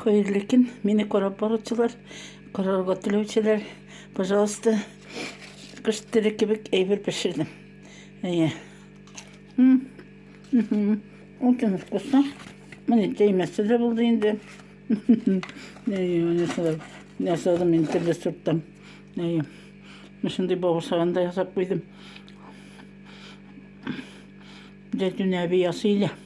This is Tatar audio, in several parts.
Хәерле көн, мине карап баручылар, карарга теләүчеләр, пожалуйста, кыш теле кебек әйбер пешердем. Әйе. Очень вкусно. Менә тәймәсе дә булды инде. Әйе, менә шулай. Ясадым инде төрле сорттан. Әйе. Шундый бавырсагын да ясап куйдым. Зәйтүнә әби ясый иде.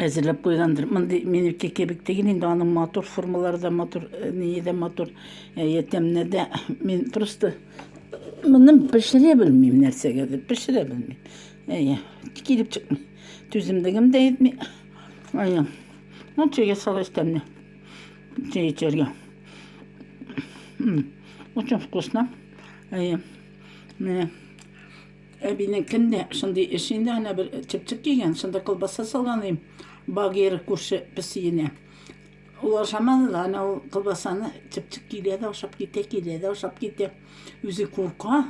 әзерләп куйгандыр. Мондый минеке кебек түгел, инде аның матур формалары да матур, э, ние дә матур, э, ятәмне дә. Мин просто моны пешерә белмим нәрсәгә дә, пешерә белмим. Әйе, килеп чыкмый. Түземлегем дә етми. Әйе. Ну, чәйгә салыш тәмле. Чәй эчәргә. Очень вкусно. Әйе. Менә. Әбинекендә шундый эш инде, әнә бер чыпчык кигән, шунда колбаса салган идем. Багира күрше песиенә. Ул ашамады да, әнә ул колбасаны чыпчык килә дә ашап китә, килә дә ашап китә. Үзе курка,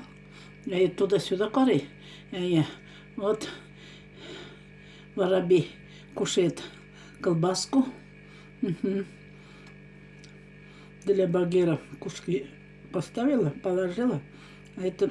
әйе, туда-сюда карый. Әйе, вот воробей кушает колбаску. Для Багира кушки поставила, положила. А это